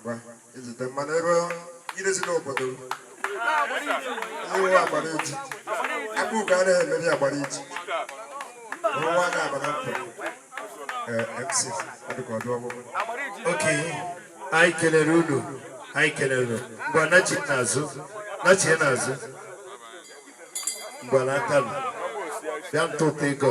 ngwa izute mmanụ ebe irezi n'obodo iwu agbara iji aka ugo anaghị emeri agbara iji nwa ga-abara mfe mc ọdụka ọdụ ọgbụgbụ oke anyị kelere unu anyị kelere ngwa nachi n'azụ nachi n'azụ ngwa n'aka m bịa tụtụ ego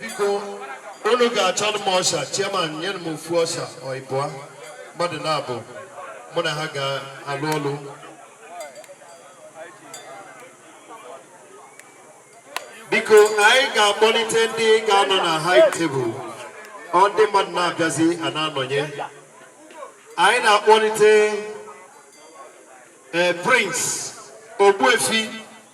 biko unu ga-achọrọ m usher chairman nyere m ofu usher or ịbụa mmadụ naabọ mụ na ha ga-alụ ọlụ biko anyị ga-akpọlite ndị ga-anọ na high table ọ ndị mmadụ na-abịazi a na-anọnye anyị na-akpọlite eh, prince ogbuefi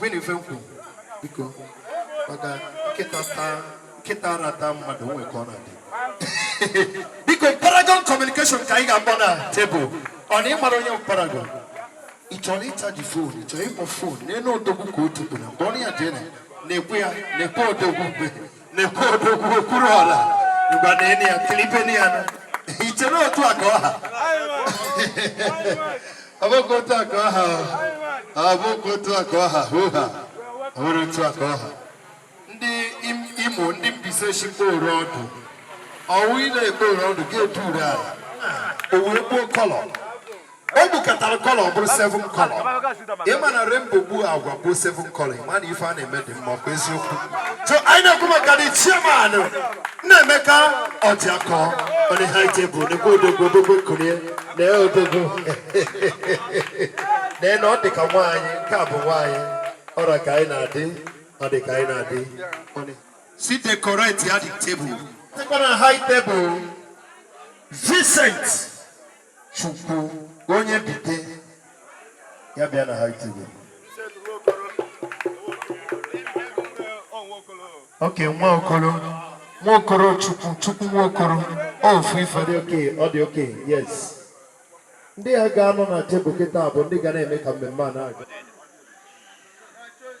Vin Ifenkwu biko maka nkịta taa nkịta ara taa mmadụ o nwee ka ọ na-adị biko paragon communication ka anyị ga-akpọ na table ọ na ịmara onye paragon ị chọrọ ị charge phone ị chọrọ ịkpọ phone nenụ odogwu ka o tupụrụ mgbe ọ na ya jee na nekwa ya nekwa odogwu mgbe nekwa odogwu okpuru ọla igba na eni ya tilipeni ya i che na otu a ka ọ ha ọ bụghị otu a ka ọ ha ọ bụghị otu a ka ọ ha hoo ha ọ bụrụ otu a ka ọ ha ndị imo ndị mbaise shikpo oru ọdụ ọ wụ ile ekpo oru ọdụ ga-edu ure ala ọ wụ ekpo color o bukatara color ọ bụrụ seven color ị ma na rainbow gbuo agwa bụrụ seven color ị ma na ife a na-eme dị mma kwa eziokwu so anyị na-ekwu maka the chairman na emeka ọdịakọ on the high table nekwa odogwu odogwu kulie na odogwu na na ọ dị ka nwaanyị nke a bụ nwaanyị ọra ka anyị na-adị ọ dị ka anyị na-adị si decorate ya the table tekwara high table Vincent Chukwu onye invite ya bịa na high table okay nwa okoro nwa okoro chukwu chukwu nwa okoro ofu ife dị okay ọ dị okay yes ndị a ga-anọ na table kịta bụ ndị ga na-eme ka mmemme a na-aga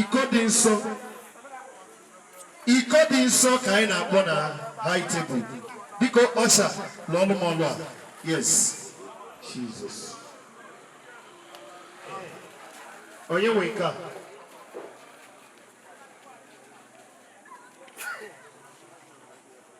iko dị nsọ iko dị nsọ ka anyị na-akpọ na high table biko usher lụọlụ m ọlụ a yes Jesus onye nwe nke a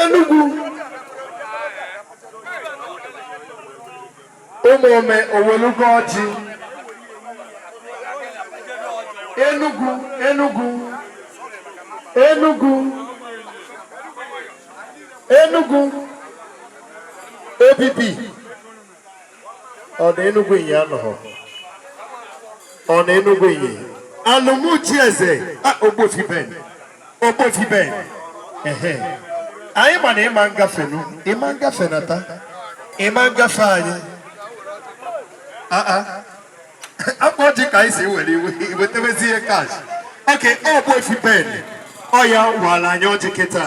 Enugu ụmụome owelugo ọjị Enugu Enugu Enugu Enugu obibi ọ na Enugu Inyi anọghọ ọ na Enugu Inyi Alum chieze Ogbuefi Ben Ogbuefi Ben ehe anyị ma na ịma ngafe nụ ịma ngafe nata ịma ngafe anyị akpa ọjị ka anyị si were iwe iwetewezi ihe cash okay Ogbuefi Ben ọ ya-awara anyị ọjị kịta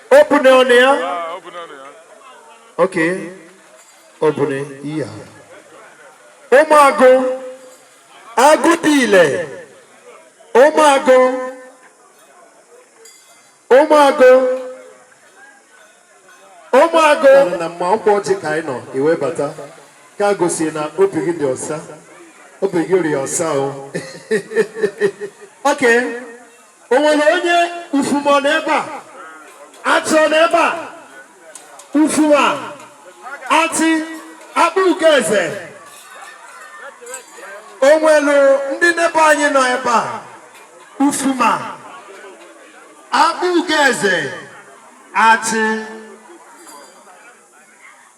Obune ọ nọ ya. Ah, Obune ọ nọ ya. Okay. Obune. Yeah. Ụmụagụ agụ dị ile. Ụmụagụ. Ụmụagụ. Ụmụagụ. Na mma ọkwa ọjị ka anyị nọ ewebata ka gosi na obi gị dị ọsa. Obi gị rị ọsa o. Okay. O nwere onye Ufuma n'ebe a Achi n'ebe a Ufuma Achi Akpugoeze o nwere ndị n'ebe anyị nọ ebe a Ufuma Akpugoeze Achi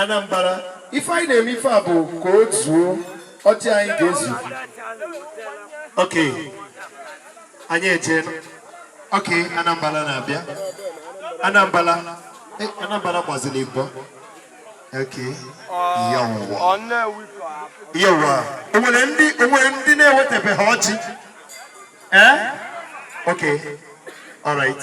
Anambra ife anyị na-eme ife a bụ ka o zuo ọjị anyị ga-ezu ok anyị eje ok Anambra na-abịa Anambra eh, Anambra gbaziri igbo ok yawwa yawwa o nwere ndị o nwere ndị na-ewetebeha ọjị ee eh? ok all right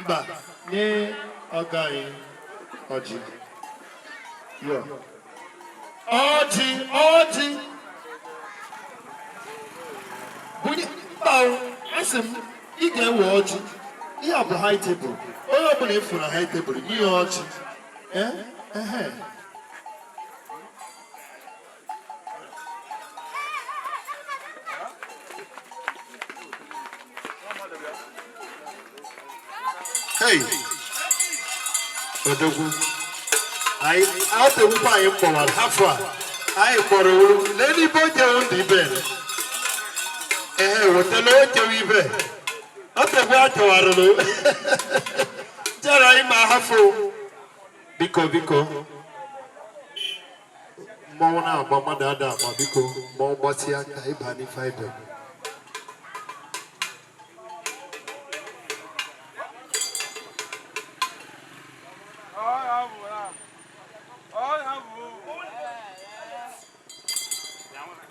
Mba, nye ọga anyị ọjị. Yo. Ọjị, ọjị. Bunye mba o, asị m, ị ga-ewe ọjị. Ihe a bụ high table. Onye ọbụla ị fụ na high table, nye ya ọjị. Eh? Ehe. Hey! Odogwu. Anyị atewukwu anyị mkpọwara afọ a. Anyị kpọrọ olu. Lee n'ibe o jewo ndị ibe. Ee, wetala o jewo ibe. Ọ tegbu atewara n'o. Jara anyị ma hafụ. Biko, biko. mmanwụ na-agba mmadụ ada agba biko ma ọ gbasịa ka ịba n'ife ibe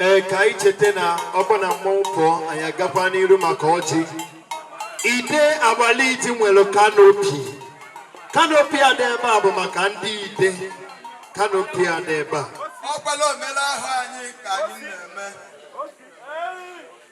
ee ka anyị cheta na ọ bụ na mmọnwụ pụọ anyị agakwa n'iru maka ọjị ide agbaliji nwere kanopi kanopi a dị ebe a bụ maka ndị ide kanopi a dị ebe a ọkwala omelala anyị ka anyị na-eme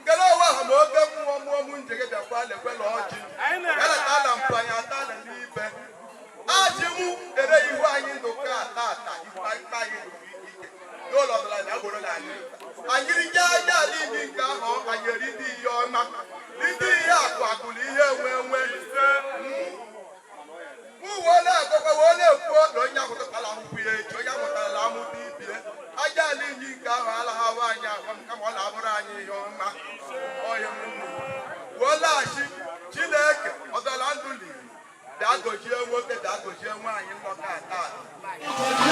ngene ọwa ha ma oke mmụọ mmụọ m nje gị bịakwa lekwela ọjị eleta na mpanye ata na n'ibe ajị mụ dere ihu anyị ndụ ka ata ata ife anyị ndụ ike n'ụlọ ọbụla na agboro na anyị anyị rike aja ala inyi nke ahụ anyị erite ihe ọma rite ihe akụ akụ na ihe enwe enwe uwe na-agọkwa wee na-ekwu ọdụ onye ahụtụtala ahụhụ ya echi onye ahụtala amụta ibie aja ala inyi nke ahụ alaha wa anyị agwa m kama ọ na-abụrụ anyị ihe ọma ọhịa m nnu wee laghachi chineke ọdọla ndụ liri bịa gọzie nwoke bịa gọzie nwaanyị nlọta taa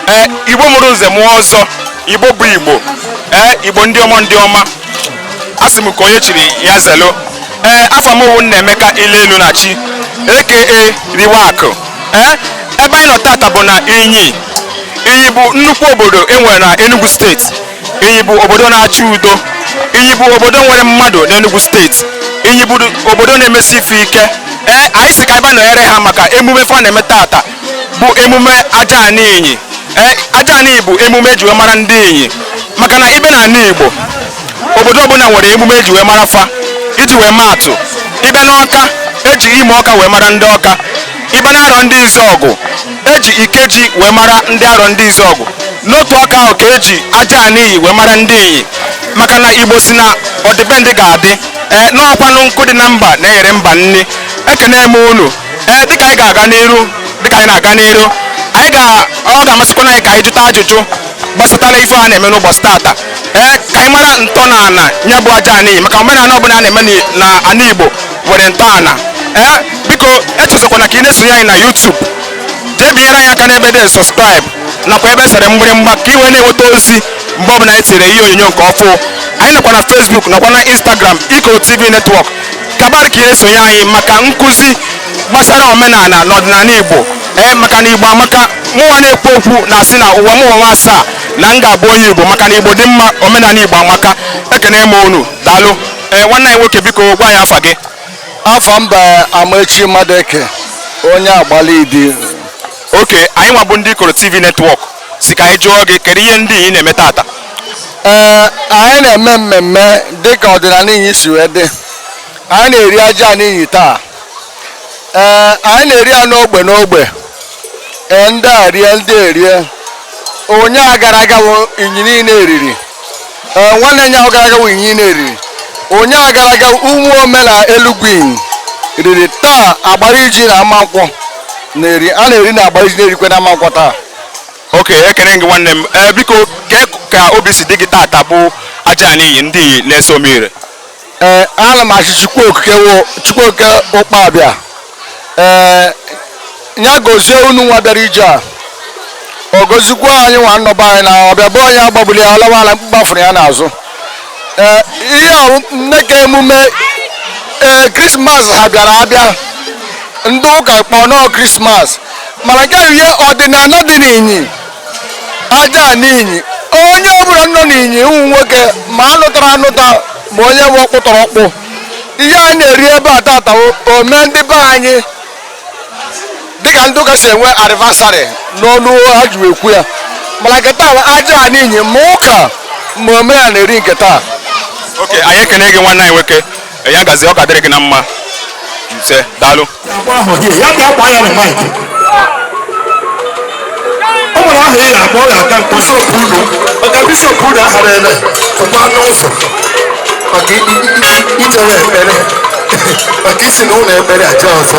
ee igbo mụrụ nze mụọ ọzọ igbo bụ igbo ee igbo ndị ọma ndị ọma a sị m ka onye chiri ya zelu ee afa m wụ nnaemeka ile elu na chi aka riwe akụ ee ebe anyị nọ tata bụ na inyi inyi bụ nnukwu obodo enwere na enugu steeti inyi bụ obodo na-achọ udo inyi bụ obodo nwere mmadụ n'enugu steeti inyi bụ obodo na-emesi ife ike ee anyị sị ka anyị bịa nọnyere ha maka emume fa na-eme tata bụ emume aja ana inyi Eh, aja ana inyi bụ emume eji wee mara ndị inyi maka na ị bịa na ana igbo obodo ọbụla nwere emume eji wee mara fa iji wee maa atụ ị bịa n'ọka eji imo ọka wee mara ndị ọka ị bịa na arọndịzuọgụ eji ikeji wee mara ndị arọndịzuọgụ n'otu aka ahụ ka eji aja ana inyi wee mara ndị inyi maka na igbo sị na ọdịbendị ga-adị ee n'ọkwanụ nkụ dị na mba na-eghere mba nni ekene m unu ee dịka anyị ga-aga n'iru dịka anyị na-aga n'iru anyị ga ọ ga-amasịkwana anyị ka anyị jụta ajụjụ gbasatara ife a na-eme n'ụbọchị tata ee ka anyị mara ntọala ya bụ aja ana inyi maka omenala ọbụla a na-eme ni- na ana igbo nwere ntọala ee biko echezọkwana ka ị na-esonye anyị na YouTube jee binyere anyị aka n'ebe dị subscribe nakwa ebe sere mgbịrịmgba ka ị wee na-enweta ozi mgbe ọbụla anyị tiri ihe onyonyo nke ọfụ anyị nọkwa na Facebook nakwa na Instagram Ikoro TV Network ka a bara ka ị na-esonye anyị maka nkụzi gbasara omenala na ọdịnala igbo ee maka na igbo amaka mụnwa na-ekwu okwu na-asị na ụwa m ụwa asaa na m ga-abụ onye igbo maka na igbo dị mma omenala igbo amaka ekene m unu daalụ ee nwanne anyị nwoke biko gwa anyị afa gị afa m bụ amaechi madueke onye agbalidi okay anyịnwa bụ ndị ikoro tv netwọk si ka anyị jụọ gị kedu ihe ndị inyi na-eme tata ee anyị na-eme mmemme dịka ọdịnala inyi si wee dị anyị na-eri ajana inyi taa ee anyị na-eri ya n'ogbe n'ogbe ee ndị a rie ndị a rie ụnyaa gara aga bụ inyi niile eriri ee nwanne ụnyaahụ gara aga wụ inyi na-eriri ụnyaahụ gara aga ụmụome na elugwu inyi riri taa agbariji na amankwọ na-eri a na-eri na agbariji na-erikwe na amankwọ taa ok ekene gị nwanne m ee biko kee ka obi si dị gị tata bụ ajana inyi ndị na-eso m ire ee ana m asị chukwu okike chukwuoke ụkpabịa ee ya gozie unu nwa bịara ije a ọ gozikwa anyị nwa nọ be anyị na ọbịa be onye agbagbula ya ọ lawa ala mkpukpu afụrụ ya n'azụ ee ihe ahụ nne ka emume ee krismas ha bịara abịa ndị ụka kpọọ nọọ krismas mana nke ihe ọdịnala dị n'inyi ajana inyi onye ọbụla nọ n'inyi ụmụ nwoke ma anụtara anụta ma onye wụ ọkpụtọrọ ọkpụ ihe anyị na-eri ebe a tata ome ndị be anyị dịka ndị ụka si enwe anivasarị n'ọnụ ha ji ekwu ya mana nke taa ajana inyi ma ụka ma ome ya na-eri nke taa oke anyị ekene gị nwanne anyị nwoke ya gazi ọ ka dịrị gị na mma isee daalụ agba ahụ gị ya ka akwa ya na maịk o nwere aha ị na-akpọ ọ ga-aga nke bishọp unu maka bishọp unu ahara ebe tụkwa n'ụzọ maka i- i- i- ichere ekpere maka isi na ụlọ ekpere aja ọzọ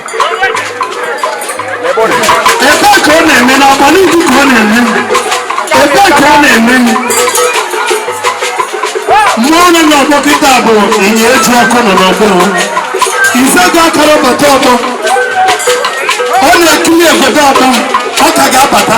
ka ọ na-eme n'akwa n'uju ka ọ na-eme ebe ka ọ na-eme mmụọ nọ n'ọgbọ kịta bụ ịnya eji ọkụ nọ n'ọgbọ izaga akara bata ọgbọ ọ na-ekiri egodo ọgbọ ọ ka ga-abata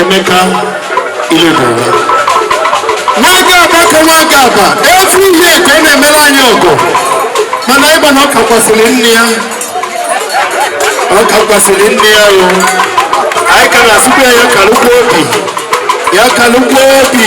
Emeka Iledara nwaga aba ka nwaga aba efu ihe ka ọ na-emere anyị ọgụ mana ịgba na ọ kakwasịrị nne ya ọ kakwasịrị nne ya o anyị ka na-asịkwa ya ka lụkwa obi ya ka lụkwa obi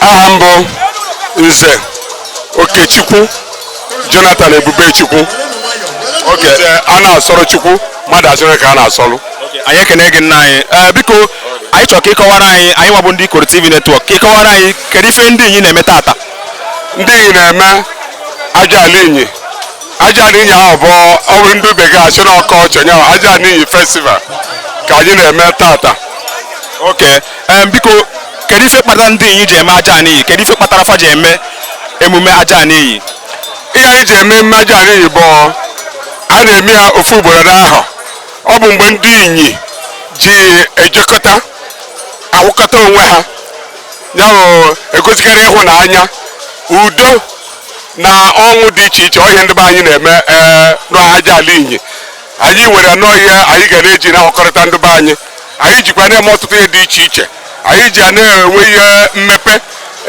aha m bụ nze okechukwu jonathan ebubechukwu oke a na-asọrọ chukwu mmadụ asịrị ka a na-asọrụ anyị ekene gị nna anyị ee biko anyị chọrọ ka ị kọwara anyị anyị nwa bụ ndị ikoro tv network ka ị kọwara anyị kedu ife ndị inyi na-eme tata ndị inyi na-eme aja ala inyi aja ala inyi ahụ bụ ọ bụrụ ndị bekee a sị na ọ culture nya bụ aja ala inyi festival ka anyị na-eme tata okay Em, biko kedu ife kpatara ndị inyi ji eme ajana inyi kedu ife kpatara fa ji eme emume ajana inyi ihe anyị ji eme emume ajana inyi bụ a na-eme ya ofu ugboro n'ahọ ọ bụ mgbe ndị inyi ji ejekọta awụkọta onwe ha ya bụ egosikarị ịhụnanya udo na ọṅụ dị iche iche ọ ihe ndị be anyị na-eme ee n'aja ala inyi anyị weere na ọ ihe anyị ga na-eji na-ahụkọrịta ndị be anyị anyị jikwa na-eme ọtụtụ ihe dị iche iche anyị ji ya na-enwe ihe mmepe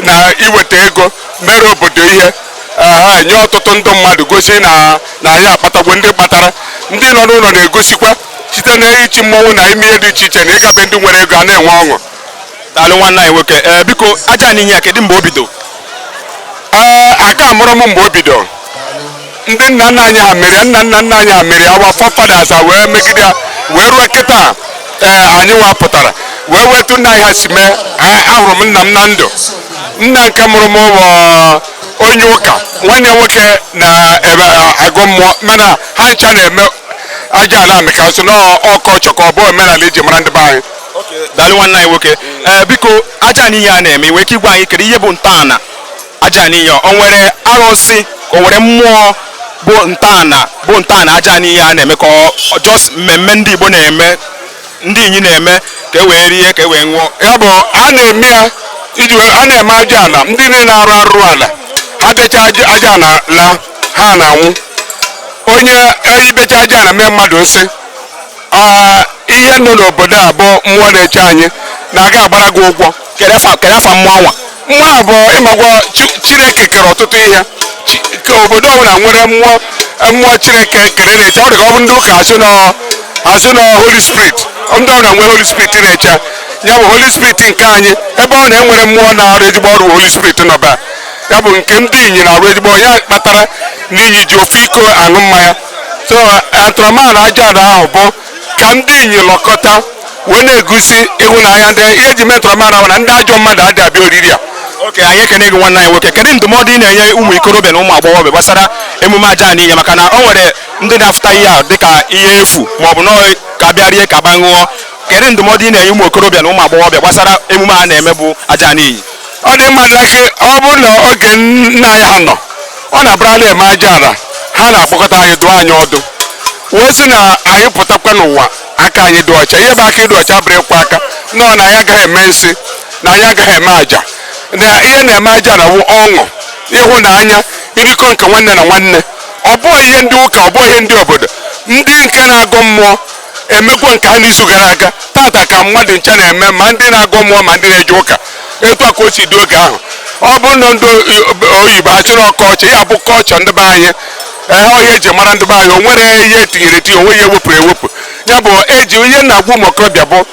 na iweta ego mere obodo ihe ha nye ọtụtụ ndị mmadụ gosi na na anyị akpatagwo ndị kpatara ndị nọ n'ụlọ na-egosikwa site na ichi mmọnwụ na ime ihe dị iche iche na ịga be ndị nwere ego a na-enwe ọṅụ daalụ nwanne anyị nwoke ee biko ajana inyi a kedu mgbe o bido ee a ka amụrọ m mgbe o bido ndị nna nna anyị ha mere nna nna nna anyị ha mere our forefathers a wee megide ya wee ruo kịta ee anyị nwa pụtara wee were etu nna anyị ha si mee a- ahụrụ m nna m na ndụ nna nke mụrụ m bụ onye ụka nwanne ya nwoke na-agọ mmụọ mana ha ncha na-eme aja ala maka a sị na ọ culture ka ọ bụ omenala eji mara ndị be anyị daalụ nwanne anyị nwoke ee biko ajana inyi a na-eme i nwee ike ịgwa anyị kedu ihe bụ ntọala ajana inyi o nwere arụsị ka o nwere mmụọ bụ ntọala bụ ntọala ajana inyi a na-eme ka ọ just mmemme ndị Igbo na-eme ndị inyi na-eme ka e wee rie ka e wee ṅụọ ya bụ a na-eme ya iji a na-eme aja ala ndị niile na-arụ arụrụ ala ha becha aja ala la ha na-anwụ onye ibecha aja ala mee mmadụ nsị ihe nọ n'obodo a bụ mmụọ na-eche anyị na-aga agbara gị ụgwọ kedu afa mmụọ anwa mmụọ a bụ ị magwo chineke kere ọtụtụ ihe ka obodo ọbụla nwere mmụọ mmụọ chineke kere na-eche ọ dị ka ọ bụ ndị ụka asụ na asụ na holy spirit ndị ọbụla nwere holy spirit na-eche ya bụ holy spirit nke anyị ebe ọ na-enwere mmụọ na-arụ ezigbo ọrụ holy spirit nọ ebe a ya bụ nke ndị inyi na-arụ ezigbo ya kpatara na inyi ji ofu iko aṅụ mmanya so atụrụmala aja ahụ bụ ka ndị inyi lọkọta wee na-egosi ịhụnanya ndị ihe eji metọrọ mara na ndị ajọ mmadụ adị abịa oriri a okay anyị ekene gị nwanne anyị nwoke kedu ndụmọdụ ị na-enye ụmụ ikorobịa na ụmụ agbọghọbịa gbasara emume ajana inyi maka na o nwere ndị na-afụta ihe a dịka ihe efu ma ọ bụ nọọ ka bịa rie ka bịa ṅụọ kedu ndụmọdụ ị na-enye ụmụ okorobịa na ụmụ agbọghọbịa gbasara emume a na-eme bụ ajana inyi ọ dị mma na gị ọ bụrụ na oge nna anyị ha nọ ọ na-abụrụ a na-eme ajana ha na-akpọkọta anyị dụọ anyị ọdụ wee sị na anyị pụtakwa n'ụwa aka anyị dị ọcha ihe bụ aka ịdị ọcha bụrụ ịkwa aka nọ na anyị agaghị eme nsi na anyị agaghị eme aja na ihe na-eme ajana wụ ọṅụ ịhụnanya irikọ nke nwanne na nwanne ọ bụghị ihe ndị ụka ọ bụghị ihe ndị obodo ndị nke na-agọ mmụọ emekwa nke ha n'izu gara aga tata ka mmadụ ncha na-eme ma ndị na-agọ mmụọ ma ndị na-eje ụka etu a ka o si dị oge ahụ ọ bụrụ na ndị oyibo asịrị culture ya bụ culture ndị be anyị ee ihe eji mara ndị be anyị o nwere ihe etinyere etinye o nwe ihe ewepụrụ ewepụ ya bụ eji ihe na-agwa ụmụ okorobịa bụ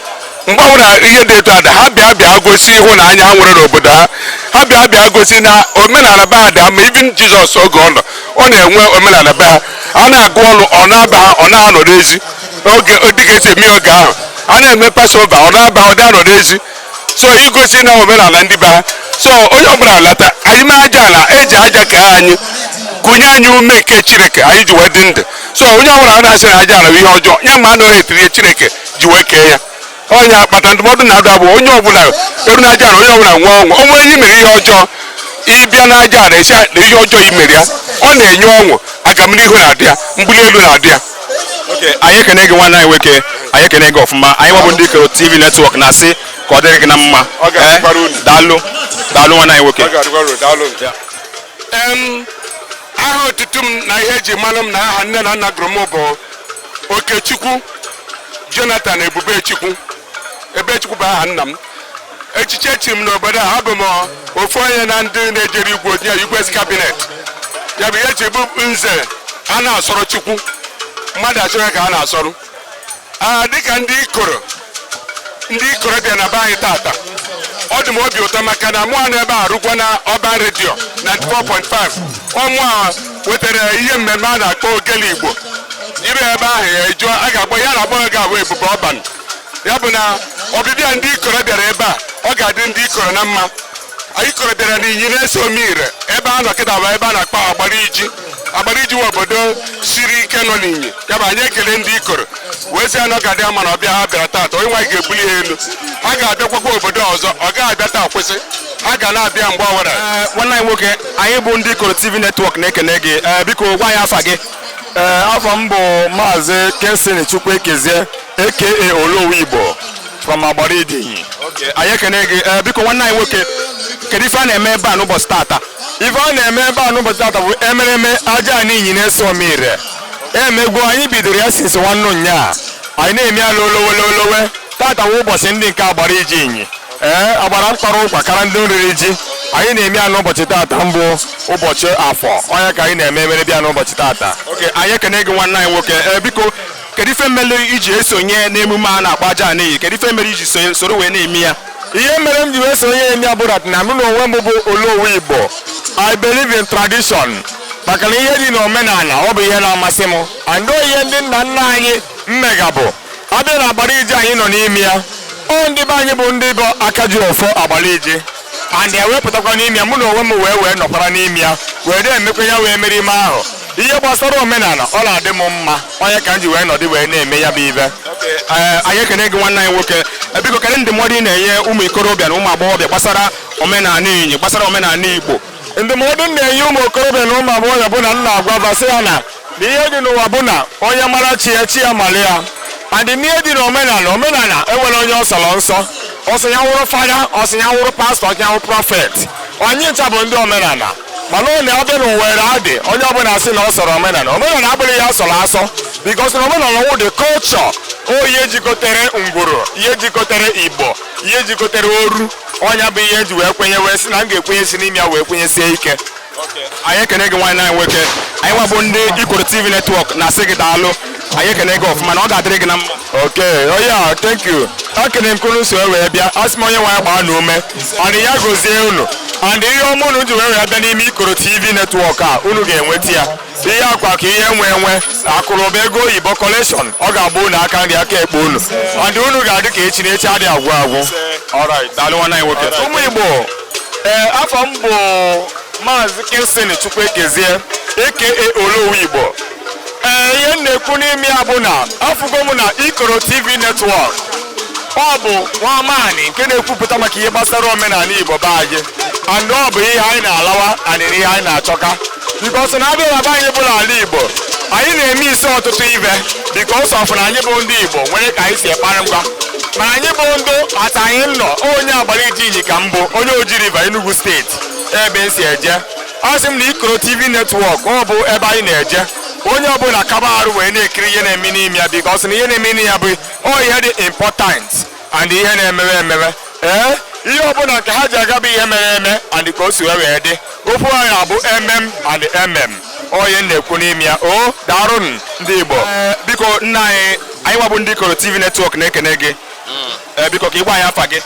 mgbe ọbụla ihe dị etu a dị ha bịa bịa gosi ịhụnanya ha nwere n'obodo ha ha bịa bịa gosi na omenala be ha dị ha mma even jizọs oge ọ nọ ọ na-enwe omenala be ha a na-agụ ọrụ ọ na-aba ha ọ na-anọ n'ezi oge dịka esi eme oge ahụ a na-eme passover ọ na-aba ọ dị anọ n'ezi so igosi na omenala ndị be ha so onye ọbụla lata anyị mee aja ala eji aja kee anyị kunye anyị ume nke chineke anyị ji wee dị ndụ so onye ọbụla na-asị na aja ala bụ ihe ọjọọ ya ma anọghị etinye chineke ji wee kee ya ọ ya kpata ndụmọdụ na-adụ bụ onye ọbụla eru n'ajana onye ọbụla nwee ọṅụ o nwere ihe mere ihe ọjọọ ị bịa n'ajana esi na ihe ọjọọ imere ya ọ na-enye ọṅụ agamnihu na-adị ya mbuli elu na-adị ya okay anyị ekene gị nwanne anyị nwoke anyị ekene gị ọfụma anyị nwa bụ ndị ikoro tv network na-asị ka ọ dịrị gị na mma Ọ ga-adịkwara unu. Eh, daalụ daalụ nwanne anyị nwoke Em, aha otutu m na ihe eji malụ m na aha nne na nna gụrụ m bụ Okechukwu Jonathan Ebubechukwu Ebechukwu bụ aha nna m echichi echiri m n'obodo a abụ m ofu onye na ndị na-ejere igwe ozi na igwe cabinet ya bụ ihe e chi bụ nze a na-asọrọ Chukwu mmadụ asịwa ka a na-asọrọ ya dịka ndị ikoro ndị ikoro bịara na be anyị tata ọ dị m obi ụtọ maka na mụwa nọ ebe a rụkwa na urban radio 94.5 ọmụ a wetara ihe mmemme a na-akpọ ogele igbo i ru ebe ahụ ya ajụọ a ga-agwa ya na-akpọ ga abụ ebube urban ya bụ na ọbịbịa ndị ikoro bịara ebe a ọ ga-adị ndị ikoro na mma anyị Ikoro bịara n'Inyi na-ese omire ebe a nọ kịta bụ ebe a na-akpọ Agbariji Agbariji wụ obodo siri ike nọ n'inyi ya bụ anyị ekele ndị ikoro wee sị na ọ ga-adị ha mma na ọbịa ha bịara taata onye nwe anyị ga-ebuli ha elu ha ga-abịakwakwa obodo ọzọ ọ gaghị abịa taa kwụsị ha ga na-abịa mgbe ọwụla nwanne anyị nwoke anyị bụ ndị ikoro tv netwọk na-ekene gị biko gwa anyị afa gị afa m bụ maazị Kingsley Chukwuekezie aka Olowu Igbo from Agbariji Inyi anyị ekene gị ee biko nwanne anyị nwoke kedu ife a na-eme ebe a n'ụbọchị tata ife a na-eme ebe a n'ụbọchị tata bụ emereme Ajana Inyi na-ese omire emegbu anyị bidoro ya since nwanne ụnyaa anyị na-eme ya lolowe lolowe tata bụ ụbọchị ndị nke Agbariji Inyi ee agbara mkpara ụkwa kara ndị oriri ji anyị na-eme ya n'ụbọchị tata bụ ụbọchị afọ ọ nya ka anyị na-eme emere bịa n'ụbọchị tata okay anyị ekene gị nwanne anyị nwoke ee biko kedu ife mere i ji esonye n'emume a na-akpọ Ajana Inyi kedu ife mere i ji sonye- soro wee na-eme ya ihe mere m ji wee sonye eme ya bụrụ na mụ na onwe m bụ olowu igbo i believe in tradition maka na ihe dị n'omenala ọ bụ ihe na-amasị m and ọ ihe ndị nna nna anyị mmega bụ a bịa na Agbariji anyị nọ n'ime ya ọ ndị be anyị bụ ndị bụ aka ji ọfọ Agbariji and ya wee pụtakwa n'ime ya mụ na onwe m wee wee nọkwara n'ime ya wee na-emekwa ya wee mere ime ahụ ihe gbasara omenala ọ na-adị m mma ọ nya ka m ji wee nọdụ wee na-eme ya bụ ife ee anyị ekene gị nwanne anyị nwoke Eh, biko kedu ndụmọdụ ị na-enye ụmụ ikorobịa na ụmụ agbọghọbịa gbasara omenala Inyi gbasara omenala igbo ndụmọdụ m na-enye ụmụ okorobịa na ụmụ agbọghọbịa bụ na m na-agwa basị ya na na ihe dị n'ụwa bụ na onye mara chi ya chi ya mara ya and ihe dị n'omenala omenala enwerọ onye ọ sọrọ nsọ ọ sọ ya wụrụ father ọ sọ ya wụrụ pastor ọ sọ ya wụrụ prophet anyị ncha bụ ndị omenala mana ọ na-abịa nowadays onye ọbụla asị na ọ sọrọ omenala omenala abụghị ihe a sọrọ asọ because na omenala wụ the culture ọ ihe jikọtere ngwuru ihe jikọtere igbo ihe jikọtere oru ọ nya bụ ihe e ji wee kwenye wee sị na m ga-ekwenyesi n'ime ya wee kwenyesie ike anyị ekene gị nwanne anyị nwoke anyị nwabụ ndị Ikoro TV netwọk na-asị gị daalụ anyị ekene gị ọfụma na ọ ga-adịrị gị na mma okay onye oh a thank you ekene m ka unu so wee bịa asị m onye nwe anyị gbaa unu ume and ya gozie unu and ihe ọma unu ji wee wee bịa n'ime Ikoro TV netwọk a unu ga-enweta ya ihe akụ akụ ihe enwe enwe akụ na ụba ego oyibo collection ọ ga-aba unu aka nri aka ekpe unu and unu ga-adị ka echi na echi adịghị agwụ agwụ ụmụ igbo ee eh, afa m bụ maazị Kingsley Chukwuekezie aka olowu igbo ee eh, ihe m na-ekwu n'ime ya bụ na afụgo m na ikoro tv netwọk ọ bụ nwa amaanị nke na-ekwupụta maka ihe gbasara omenala igbo be anyị and ọ bụ ihe anyị na-alawa and ihe anyị na-achọka bikos na abịa na be anyị bụ ala igbo anyị na-eme isi ọtụtụ ive bikos of na anyị bụ ndị igbo nwere ka anyị si ekpara ngwa ma anyị bụ ndị ata anyị nọ onye agbariji inyi ka m bụ onye oji river enugu steeti ebe m si eje asị m na ikoro tv netwọk ọ bụ ebe anyị na-eje onye ọbụla kaba arụ wee na-ekiri ihe na-eme n'ime ya bikos na ihe na-eme n'ime ya bụ ọ ihe dị important and ihe na-emewe emewe ee ihe ọbụla nke ha ji aga bụ ihe mere eme and ka o si wee wee dị okwu anyị abụ emem and emem onye m na-ekwu n'ime ya o daarụnụ ndị igbo Ee, biko nna anyị anyị nwa bụ ndị ikoro tv netwọk na-ekene gị Ee, biko ka ị gwa anyị afa gị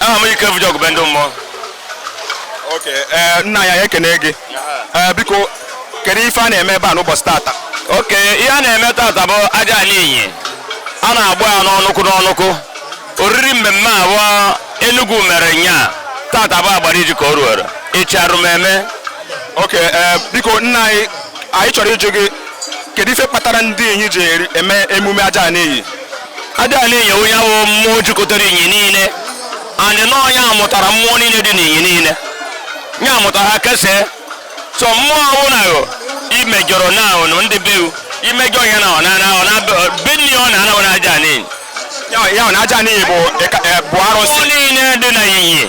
aha m ike vụjọ gụbe ndị mmụọ oke ee, nna anyị anyị ekene gị Ee, biko kedu ife a na-eme ebe a n'ụbọchị tata oke ihe a na-eme tata bụ ajana inyi a na-agba ya n'ọnụkụ n'ọnụkụ oriri mmemme abụọ Enugu mere nya tata bụ agbariji ka o ruoro echi alum eme oke ee biko nna anyị anyị chọrọ ịjụ gị kedu ife kpatara ndị inyi ji eri- eme emume ajana inyi ajana inyi onye bụ mmụọ jikọtara inyi niile and na onye a mụtara mmụọ niile dị n'inyi niile ya mụtara ha kesee so mmụọ ọbụla yo imejọrọ na ụnụ ndị be imejọ ihe na ọ na ọ na be nne ọ na anaghị ajana inyi ya ọ na ajana inyi bụ bụ arụsị niile dị na inyi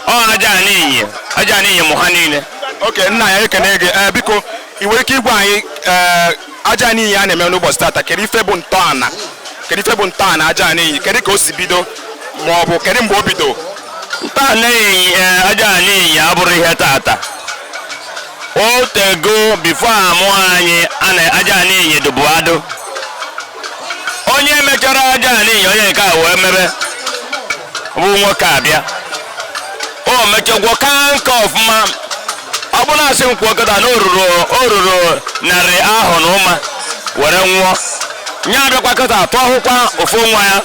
ọ ajana inyi ajana inyi mụ ha niile oke nna anyị ekene gị biko ị nwere ike ịgwa anyị ajana inyi a na-eme n'ụbọchị tata kedu ife bụ ntọala kedu ife bụ ntọala ajana inyi kedu ka o si bido ma ọ bụ kedu mgbe o bido ntọala inyi eh, ajana inyi abụrụ ihe tata o tego bifo amụ anyị ajana inyi dụbụ adụ onye mechara ajana inyi onye nke a wee mebe bụ nwokeabịa o mechagwo ka nke ọfụma ọ bụ na asị m kwuo kịta na o ruru narị ahọ na ụma were nwụọ nye abịakwa kịta atụ ahụkwa ofu nwa ya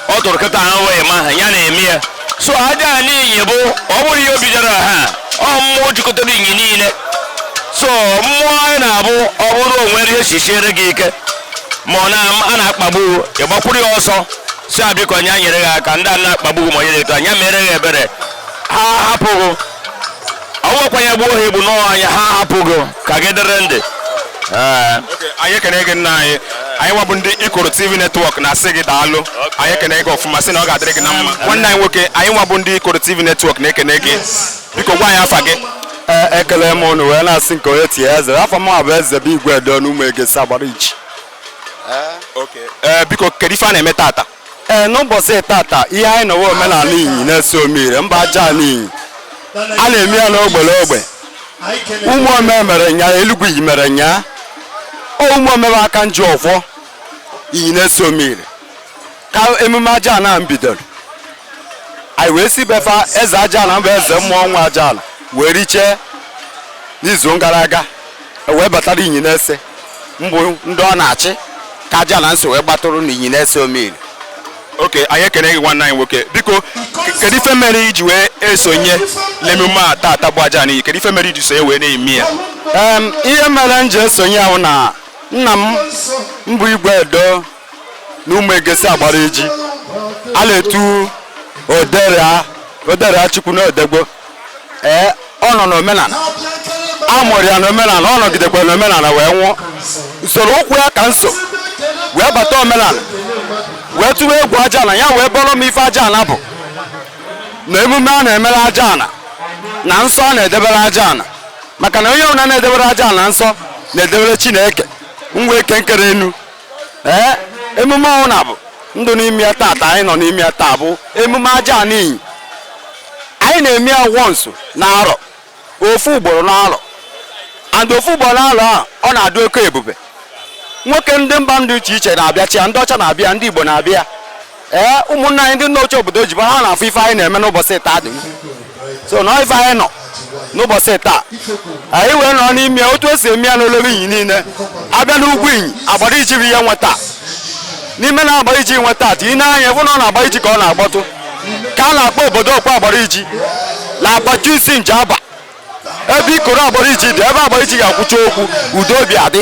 ọ tụrụ kịta ahụ wee ma ha ya na-eme ya so ajana inyi bụ ọ bụrụ ihe o bidoro ha ọ mmụọ jikọtara inyi niile so mmụọ anyị na-abụ ọ bụrụ o nwere ihe si siere gị ike ma ọ na- a na-akpagbu ị gbakwuru ya ọsọ sị ya biko nya nyere gị aka ndị a na-akpagbu gị ma onye na-eto anya mere gị ebere ha hapụ gị ọnwekwa ya gbuo ha egbu n'onwe nya ha hapụ gị ka gị dịrị ndụ Ee. Okay, anyị ekene gị nna anyị anyị nwa bụ ndị ikoro tv netwọk na-asị gị daalụ anyị ekene gị ọfụma sị na ọ ga-adịrị gị na mma nwanne anyị nwoke anyị nwa bụ ndị ikoro tv netwọk na-ekene gị biko gwa anyị afa gị Ee, ekele m unu wee na-asị nke onye tie eze afa m bụ eze bụ igwe edo n'ụmụ egesi agbariji ee biko kedu ife a na-eme tata ee n'ụbọchị tata ihe anyị nọ wụ omenala inyi na-ese omire mbụ ajana inyi a na-eme ya n'ogbe l'ogbe ụmụome mere nya elugwu inyi mere nya ụmụome bụ aka nji ọfọ inyi na-ese omire ka emume ajana bidoro anyị wee si be fa eze ajana mbụ eze mmụọ nwe ajana wee richee n'izu gara aga wee batara inyi na-ese mbụ ndị ọ na-achị ka ajana nso wee gbatụrụ na inyi na-ese omire okay anyị ekene gị nwanne anyị nwoke biko kedu ife mere i ji wee esonye n'emume a taata bụ ajana inyi kedu ife mere i ji sonye wee na-eme ya ihe mere m ji esonye ya wụ na nna m mbụ igwe edo na ụmụ egesi agbariji a na-etu oderia oderia chukwu na odegbo ee ọ nọ n'omenala a mụrụ ya n'omenala ọ nọgidekwa n'omenala wee nwụọ usoro ụkwụ ya ka m so wee bata omenala wee tụwa egwu ajana ya wee bọrọ m ife ajana bụ na emume a na-emere ajana na nsọ a na-edebere ajana maka na onye ọbụla na-edebere ajana nsọ na-edebere chineke mbụ eke nkere enu ee emume ọnwụ na bụ ndụ n'ime ya taata anyị nọ n'ime ya taa bụ emume ajana inyi anyị na-eme ya once na arọ ofu ugboro na arọ and ofu ugboro na arọ a ọ na-adị oke ebube nwoke ndị mba dị iche iche na-abịachi ya ndị ọcha na-abịa ndị igbo na-abịa ee ụmụnna anyị ndị nọcha obodo oyibo na-afụ ife anyị na-eme n'ụbọchị taa dị ụsọ na ife anyị nọ n'ụbọchị taa anyị wee nọ n'ime otu esi eme ya n'olebe inyi niile abịa n'ugwu inyi agbariji bụ ihe nweta n'ime na agbariji nweta atụ ị na-anya bụ na agbariji ka a na-akpọtụ ka a na-akpọ obodo okwu agbariji na-agbachu isi nje aba ebe ikoro agbariji dị ebe agbariji ga-akwụcha okwu udo obi adị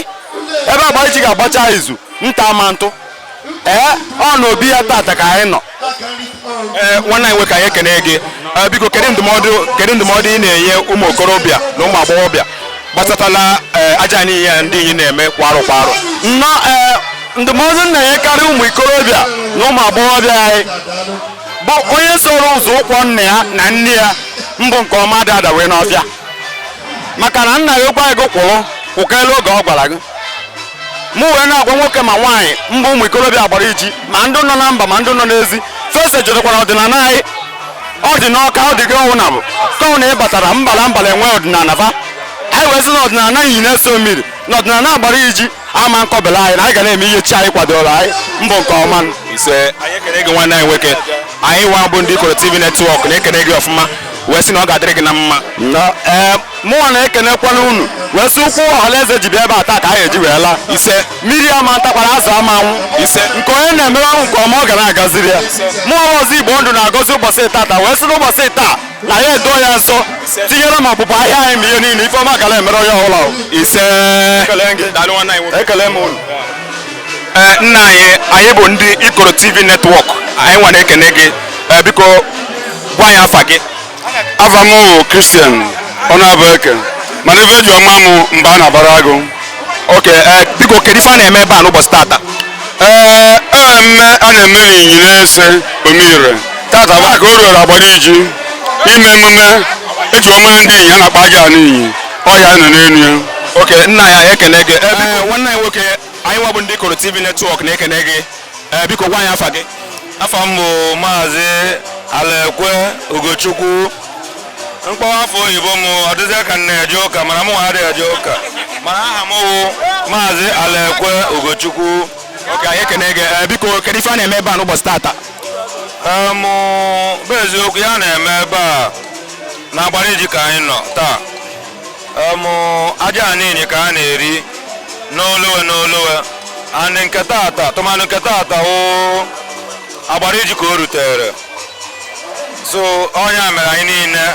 ebe agbariji ga-agbacha izu nta ma ntụ ee ọ n'obi ya tata ka anyị nọ ee nwanne anyị nwoke anyị ekene gị Ee, biko kedu ndụmọdụ kedu ndụmọdụ ị na-enye ụmụ okorobịa na ụmụ agbọghọbịa gbasatala ee, ajana inyi ndị inyi na-eme kwa arọ kwa arọ nnọọ ee ndụmọdụ m na-enyekarị ụmụ ikorobịa na ụmụ agbọghọbịa anyị bụ onye soro ụzọ ụkwụ nna ya na nne ya mbụ nke ọma adị adawe n'ọfịa maka na nna gị gwa gị kwụrụ kwụkela oge ọ gwara gị mụ wee na-agwa nwoke ma nwaanyị mbụ ụmụ ikorobịa agbariji ma ndị nọ na mba ma ndị nọ n'ezi fesa jụtakwara ọdịnala anyị ọ dị n'ọka ọ dị gị ọnwụ na bụ ka ọ wụ na ị batara mba la mba la-enwe ọdịnala fa anyị wee sị na ọdịnala inyi na-ese omire na ọdịnala agbariji ama nkọbela anyị na anyị ga na-eme ihe chi anyị kwadoro anyị mbụ nke ọma ise anyị ekele gị nwanne anyị nwoke anyị nwa bụ ndị ikoro tv netwọk na-ekele gị ọfụma wee sị na ọ ga-adịrị gị na mma ee mụnwa na-ekenekwana unu wee sị ụkwụ ọhalaeze ji bịa ebe a taa ka anyị eji wee laa ise mmiri ama ntakwara azụ ama anwụ ise nke onye na-emere ọnwụ nke ọma ọ ga na-agaziri ya mụnwa ọzọ igbo ndụ na-agọzi ụbọchị tata wee sị n'ụbọchị taa na ya edo ya nsọ tinyere ma ọpụpụ ahịa anyị ma ihe niile ife ọma ga la-emere onye ọbụla ise ekele m unu eh, nna anyị anyị bụ ndị ikoro tv netwọk anyị nwa na-ekene gị eh, biko gwa anyị afa gị afa m christian onyebueke mana ife eji ama m mba a na-abara agụ oke eh, biko kedu ife a na-eme ebe a n'ụbọchị tata ee eh, mmemme a na-eme n'inyi nese omire tata bụ aka o ruoro agbariji ime emume eji wee mara ndị inyi a na-akpọ ajana inyi ọ ya a nọ n'elu ya oke nna anyị ekene gị eh, nwanne anyị nwoke anyị nwa bụ ndị ikoro tv netwọk na-ekene gị biko gwa anyị afa gị afa m bụ maazị alaekwe ugochukwu m kpọwa afa oyibo m ọ dịzie ka m na-eje ụka mana mụ adịghị eje ụka mana aha m wụ maazị alaekwe ugochukwu oke anyị ekene gị Eh, biko kedu ife a na-eme ebe a n'ụbọchị tata Em, bụ eziokwu ihe a na-eme ebe a na agbariji ka anyị nọ taa em ajana inyi ka a na-eri n'olowe n'olowe anị nke tata tụmanụ nke tata ọ agbariji ka o rutere so ọ nya mere anyị niile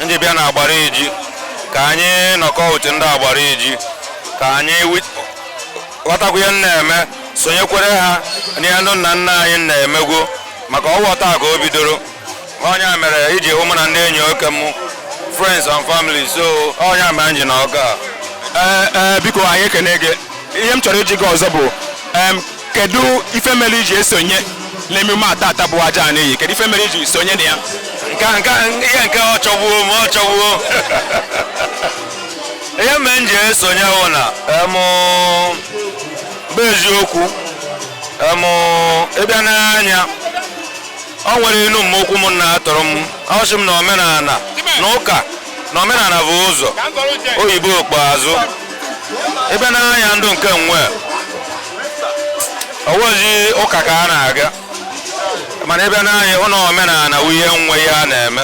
nji bịa na agbariji ka anyị nọkọ uche ndị agbariji ka anyị ghọtakwa ihe na-eme sonyekwere ha n'ihe ndị nna nna anyị na-emegwo maka ọ wa taa ka o bidoro ọ nya mere i ji hụ mụ na ndị enyi oke m friends and family so ọ nya mere m ji nọ nga a ee ee biko anyị ekene gị ihe m chọrọ ịjụ gị ọzọ bụ em, kedu ife mere iji esonye n'emume a tata bụ ajana inyi kedu ife mere iji sonye na ya nke a- nke a- ihe nke ọ chọgbuo m ọ chọgbuo ihe mere m ji esonye wụ na em, bụ eziokwu em, ị bịa n'anya o nwere inu mma ukwu m na-atụrụ m ọ sị m na omenala na ụka na omenala bụ ụzọ oyibo ikpeazụ ị bịa n'anya ndụ nke nwe ọ wụzi ụka ka a na-aga mana ị bịa n'anya ụlọ omenala wụ ihe nwe ihe a na-eme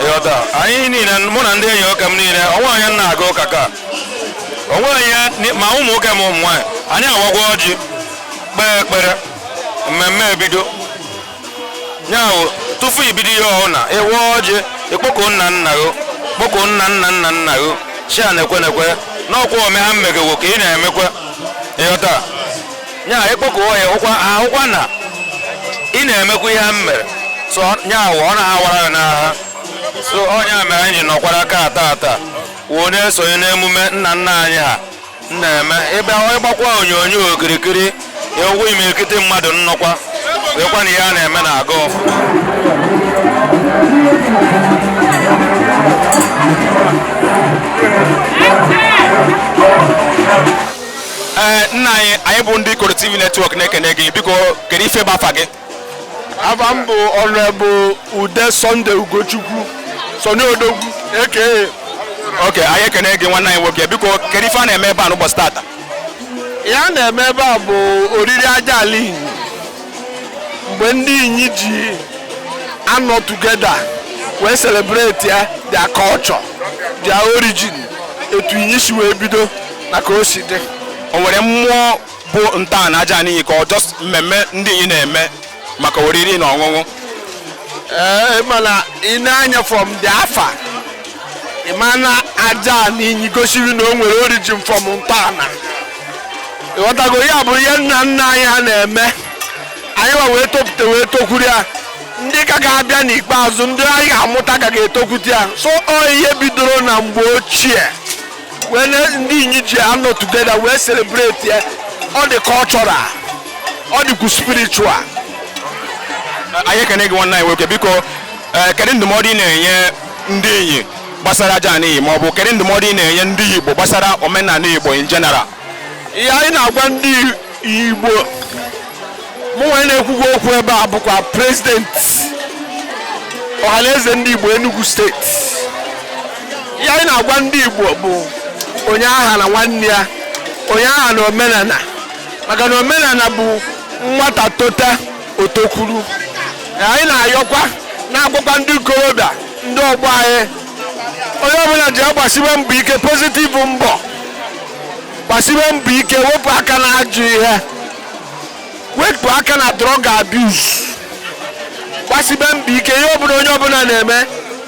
ị ghọta anyị niile mụ na ndị enyi oke m niile onwe onye na-aga ụka ka onwe anyị ma ụmụ nwoke ma ụmụ nwaanyị anyị awagwa ọjị kpee ekpere mmemme ebido nyawụ tufu ibido ihe ọbụna ịwa ọjị ịkpọku nna nna gị kpọku nna nna nna nna gị chi a na-ekwe na-ekwe n'ọkwa ome ha mmegewo ka ị na-emekwa ịghọta nya ịkpọku ya ahụkwa na ị na-emekwa ihe ha mere so nyawụ ọ na-awara gị n'agha so ọ nya mere anyị nọkwara aka ata ata wee na-esonye n'emume nna nna anyị ha na-eme ị bịa ịgbakwa onyonyo okirikiri ị hụ imirikiti mmadụ nọkwa wekwa na ihe a na-eme na-aga ọfụ ee nna anyị anyị bụ ndị Ikoro TV netwọk na-ekene gị biko kedu ife bụ afa gị afa m bụ Honorable Ude Sunday Ugochukwu Sunday Odogwu eke okay anyị ekene gị nwanne anyị nwoke biko kedu ife a na-eme ebe a n'ụbọchị tata ihe a na-eme ebe a bụ oriri aja ala inyi mgbe ndị inyi ji anọ together wee celebrate ya their culture their origin etu inyi si wee bido na ka o si dị o nwere mmụọ bụ ntọala aja anị Inyi ka ọ just mmemme ndị Inyi na-eme maka oriri na ọṅụṅụ ee mana ị na-anya from the afa ị ma na aja anị Inyi gosiri na o nwere origin from ntọala ịghọtago ya bụ ihe nna nna anyị ha na-eme anyị wa wee topụta wee tokwuru ya ndị ka ga-abịa n'ikpeazụ ndị anyị ga-amụta ka ga-etokwute ya so ọ ihe bidoro na mgbe ochie wee na ndị inyi ji anọ together wee celebrate ya ọ dị cultural ọ dịkwu spiritual anyị ekene gị nwanne anyị nwoke biko ee, kedu ndụmọdụ ị na-enye ndị inyi gbasara aja anị Inyi ma ọ bụ kedu ndụmọdụ ị na-enye ndị igbo gbasara omenala igbo in general ihe anyị na-agwa ndị Igbo mụ nwa na-ekwukwa okwu ebe a bụkwa president ọhaneze ndị Igbo Enugu steeti ihe anyị na-agwa ndị Igbo bụ onye aghana nwanne ya onye aghana omenala maka na omenala bụ nwata tota o tokwuru anyị na-ayọkwa na-agwakwa ndị ikorobịa ndị ọgbọ anyị onye ọbụla ya gbasibe mbọ ike positive mbọ gbasibe mbọ ike wepụ aka na ajọ ihe wepụ aka na drug abuse gbasibe mbọ ike ihe ọbụla onye ọbụla na-eme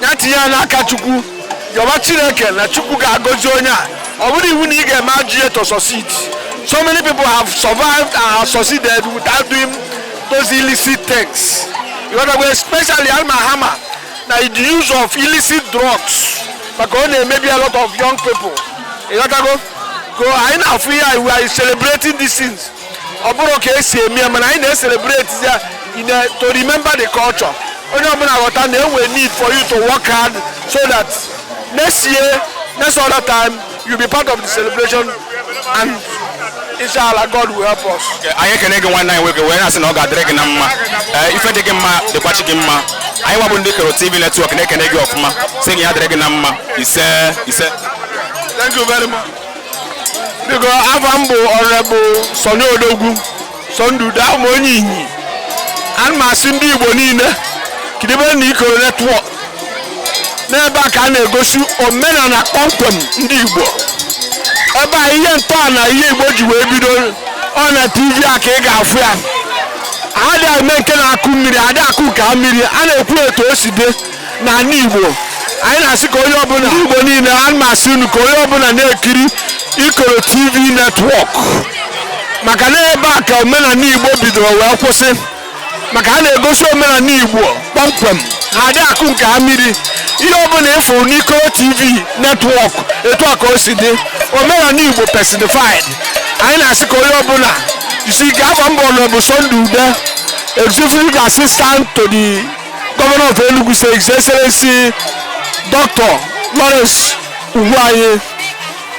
ya tinye ya n'aka chukwu yọba chineke na chukwu ga-agọzi onye a ọ bụrọ iwu na ị ga-eme ajọ ihe to succeed so many people have survived and have succeeded without doing those illicit things you know, especially alma hama na the use of illicit drugs maka ọ na-emebi a lot of young people ịghọtago ka anyị na-afụ ihe anyị we are celebrating these things ọ bụrọ ka e si eme ya mana anyị na-ecelebrate ya in a- to remember the culture onye ọbụla ghọta na e nwe need for you to work hard so that next year next other time You be part of the celebration and inshallah God will help us. anyị ekene gị nwanne anyị nwoke wee na-asị na ọ ga-adịrị gị na mma ee ife dị gị mma dịkwachi gị mma anyị nwa bụ ndị Ikoro TV network na-ekene gị ọfụma sị gị ya dịrị gị na mma ise ise Thank you very much. Biko afa m bụ Honorable Sonny Odogwu Sunday Ude abụ m onye Inyi ana m asị ndị Igbo niile kiribe na Ikoro network n'ebe a ka a na-egosi omenala kpọmkwem ndị Igbo ebe a ihe ntọala ihe Igbo ji wee bido ọ na TV a ka ị ga-afụ ya a dị eme nke na-akụ mmiri a dị akụ nke a mmiri a na-ekwu etu o si dị n'ala Igbo anyị na-asị ka onye ọbụla Igbo niile ana m asị unu ka onye ọbụla na-ekiri Ikoro TV network maka na ebe a ka omenala Igbo bidoro wee kwụsị maka a na-egosi omenala Igbo kpọmkwem na adị akụ nke a mmiri ihe ọbụla ị fụ n'Ikoro TV network etu a ka o si dị omenala Igbo personified anyị na-asị ka onye ọbụla isi ka afa m bụ Honorable Sunday Ude executive assistant to the governor of Enugu State His Excellency Dr. Lawrence Ugwuanyi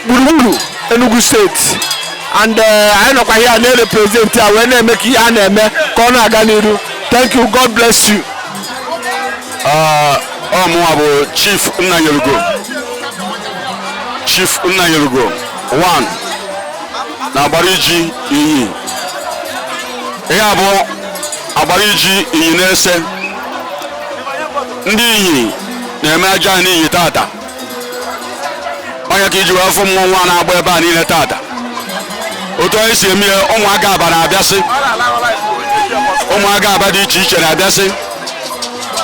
gburugburu Enugu State and eh, anyị nọkwa here na-represent ya wee na-eme ka ihe a na-eme ka ọ na-aga n'iru thank you god bless you ọ mụnwa bụ chief nnanyelugo chief nnanyelugo 1 na Agbariji Inyi ihe a bụ Agbariji Inyi na-eso ndị Inyi na-eme Ajana Inyi tata ọ nya ka i ji wee fụ mmọnwụ a na-agba ebe a niile tata otu anyị si eme ya ụmụ agaba na-abịasị ụmụ agaba dị iche iche na-abịasị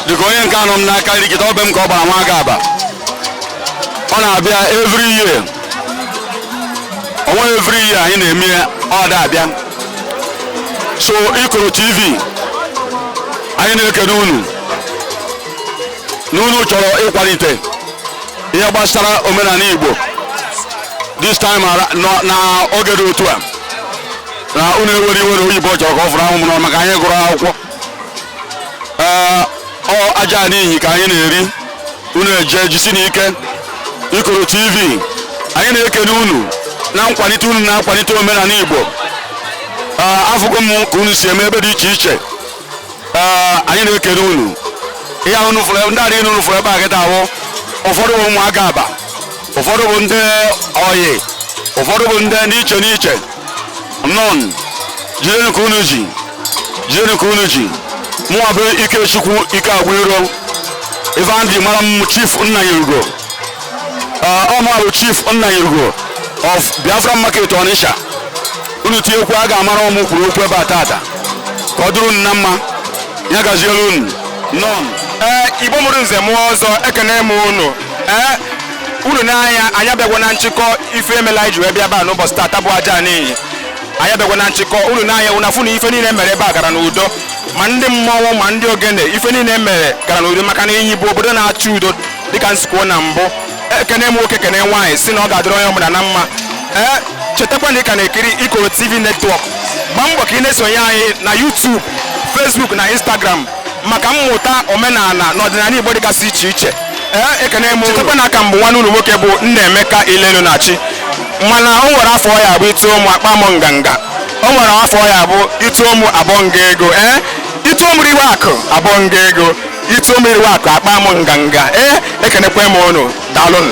dịka onye nke a nọ m n'aka nri kịta ọ be m ka ọ gbara nwa agaba ọ na-abịa every year o nwe every year anyị na-eme ya ọ da abịa so Ikoro TV anyị na-ekene unu na unu chọrọ ịkwalite ihe gbasara omenala Igbo this time ara- nọ- na oge dị otu a na unu ewere iwe na oyibo chọrọ ka ọ fụrụ m n'ọnụ maka anyị gụrụ akwụkwọ ee ọ ajana inyi ka anyị na-eri unu eje jisi n'ike ikoro tv anyị na-ekene unu na nkwalite unu na-akwalite omenala igbo ee afụgo m ka unu si eme ebe dị iche iche ee anyị na-ekene unu ihe ahụ unu fụrụ ndị adịghị unu fụrụ ebe a kịta ahụ ụfọdụ bụ ụmụaka aba ụfọdụ bụ ndị oyi ụfọdụ bụ ndị n'iche n'iche nọn jidenu ka unu ji jidenu ka unu ji mụwa bụ ikechukwu ikeagwụiro ife ndị mara m chief nnanyelugo ọ mụwa bụ chief nnanyelugo of biafra market ọnịsha unu tinyekwu a ga-amara ọ mụ kwuru okwu ebe a tata ka ọ dụrụ unu na mma ya gaziere unu nọn ee igbo mụrụ nze mụọ ọzọ ekene m unu ee uru n'anya anyị abịagwa na nchịkọ ife emela anyị ji wee bịa ebe a n'ụbọchị tata bụ ajana inyi anyị abịagwa na nchịkọ unu n'anya unu afụ na ife niile mere ebe a gara n'udo ma ndị mmọnwụ ma ndị ogene ife niile mere gara n'udo maka na inyi bụ obodo na-achọ udo dịka m si kwuo na mbụ ekene m nwoke kene nwaanyị sị na ọ ga-adịrị onye ọbụla na mma ee chetakwa na ị ka na-ekiri ikoro tv network gbaa mbọ ka ị na-esonye anyị na youtube facebook na instagram maka mmụta omenala na ọdịnala Igbo dịgasị iche iche ee ekene m chetakwa na a ka m bụ nwanne unu nwoke bụ Nnaemeka Ilenu Nachi mana o nwere afọ ya bụ ịtụ ụmụ akpa m nganga o nwere afọ ya bụ ịtụ ụmụ abụọ nga ego ee ịtụ ụmụ riwe akụ abụọ nga ego ịtụ ụmụ riwe akụ akpa m nganga ee ekenekwe m unu daalụnụ